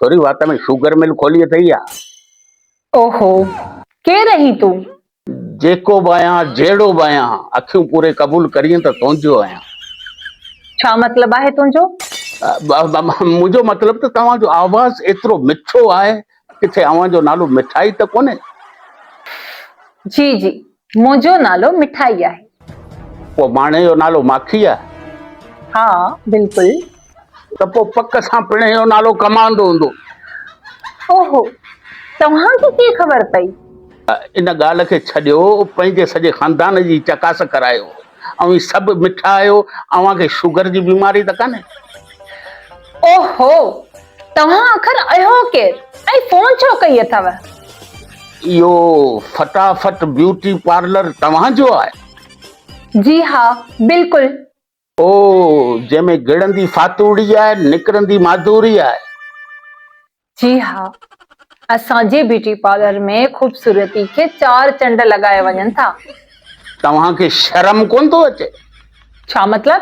سوري وات ۾ sugar mill کولي اٿئي يا؟ اوهو! ڪير آهين تون؟ جيڪو به آهيان، جهڙو به آهيان، اکيون پوري قبول ڪرين ته تنهنجو آهيان. ڇا مطلب آهي تنهنجو؟ منهنجو مطلب ته توهان جو آواز ايترو مٺو آهي، ڪٿي اوهان جو نالو مٺائي ته ڪونهي؟ جي جي، منهنجو نالو مٺائي آهي. پوء ماڻهي جو نالو ماکي آهي؟ ها بلڪل. ته پوء پڪ سان پڻهي جو نالو ڪماندو هوندو. اوهو. توهان کي ڪيئن خبر پئي؟ ان ڳالهه کي ڇڏيو پنهنجي سڄي خاندان جي چڪاس ڪرايو. اوهين سڀ مٺا آهيو. اوهان کي شوگر جي بيماري ته ڪانهي؟ اوهو. توهان آخر اهو ڪير ۽ فون ڇو ڪئي اٿئو؟ اهو فٽافٽ بيوٽي پارلر توهان جو آهي؟ جي ها بلڪل. او جنهن ۾ گڙندي فاتوڙي آهي نڪرندي ماڌوري آهي. جي ها اسان جي بيوٽي پارلر ۾ خوبصورتي کي چار چنڊ لڳايا وڃن ٿا. توهان کي شرم ڪونه ٿو اچي؟ ڇا مطلب؟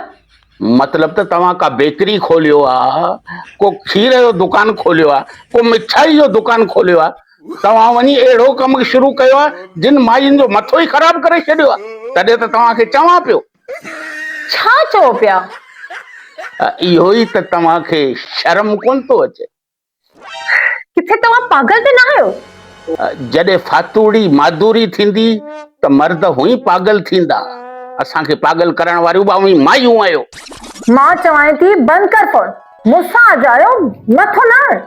مطلب ته توهان ڪا بيڪري کوليو آ، ڪو کير جو دڪان کوليو آ، ڪو مٺائي جو دڪان کوليو آ، توهان وڃي اهڙو ڪم شروع ڪيو آ جن ماين جو مٿو ئي خراب ڪري ڇڏيو آ، تڏهن ته توهان کي چوان پيو. ڇا چئو پيا؟ اهو ئي ته توهان کي شرم ڪونه ٿو اچي. ڪٿي توهان پاگل ته نه آهيو؟ جڏهن فاتوڙي مادوري ٿيندي ته مرد هونئين پاگل ٿيندا. اسان کي پاگل ڪرڻ واريون به اوهين مايون آهيو. مان چوانء ٿي بند ڪر فون. مون سان اجايو مٿو نه هڻ.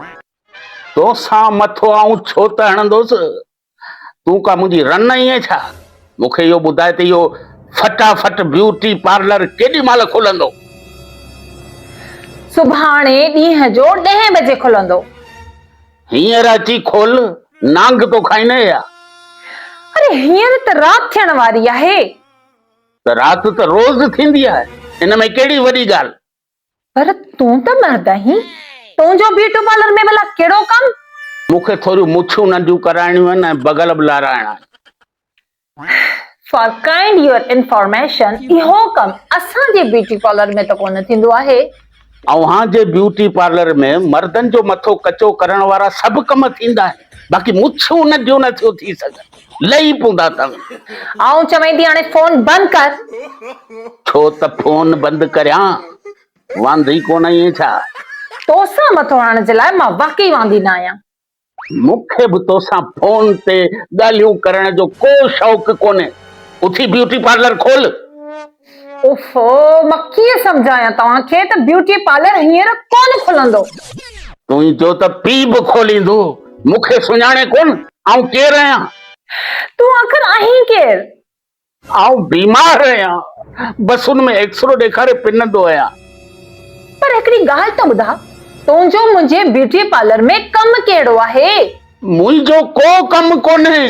تو سان مٿو آئون ڇو ته هڻندوس. تون ڪا منهنجي رن آهين ڇا؟ مون کي اهو ٻڌاء ته اهو فٽا فٽ بيوٽي پارلر ڪيڏي مهل کلندو؟ سڀاڻي ڏينهن جو ڏهين بجي کلندو. هينئر اچي کول، نانگ ٿو کائين ايا. اري هينئر ته رات ٿيڻ واري آهي. ته رات ته روز ٿيندي آهي، ان ۾ ڪهڙي وڏي ڳالهه. پر تون ته مرد آهين، تنهنجو بيوٽي پارلر ۾ ڀلا ڪهڙو ڪم؟ مون کي ٿوريون مڇون ننڍيون ڪرائڻيون آهن ۽ بغل به لارائڻا آهن. فار ڪائنڊ يور انفارميشن، اهو ڪم اسان جي بيوٽي پارلر ۾ ته ڪونه ٿيندو آهي. اوهان جي بيوٽي پارلر ۾ مردن جو مٿو ڪچو ڪرڻ وارا سڀ ڪم ٿيندا آهن، باقي مڇون ننڍيون نه ٿيون ٿي سگهن. لھي پوندا تھ آئون چوين ٿي ھاڻي فون بند ڪر. ڇو تھ فون بند ڪريان؟ واندي ڪونھ آھين ڇا؟ توسان مٿو ھڻڻ جي لاء مان واقعي واندي نھ آھيان. مون کي بھ توسان فون تي ڳالھيون ڪرڻ جو ڪو شوق ڪونھي. اٿي بيوٽي پارلر کول. اوفو مان ڪيئن سمجهايان توهان کي ته بيوٽي پارلر هينئر ڪونه کلندو. تون ئي چو ته پي به کوليندو. مون کي سڃاڻين ڪونه آئون ڪير آهيان. تون آخر آهين ڪير؟ آئون بيمار آهيان بس ان ۾ ايڪسرو ڏيکاري پنندو آهيان. پر هڪڙي ڳالهه ته ٻڌاء تنهنجو منهنجي بيوٽي پارلر ۾ ڪم ڪهڙو آهي؟ منهنجو ڪو ڪم ڪونهي.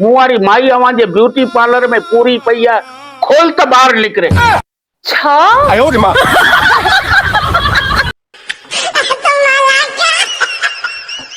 مون واري مائي اوهان جي بيوٽي پارلر ۾ پوري پئي آهي کول ته ٻاهر نڪري. ڇا؟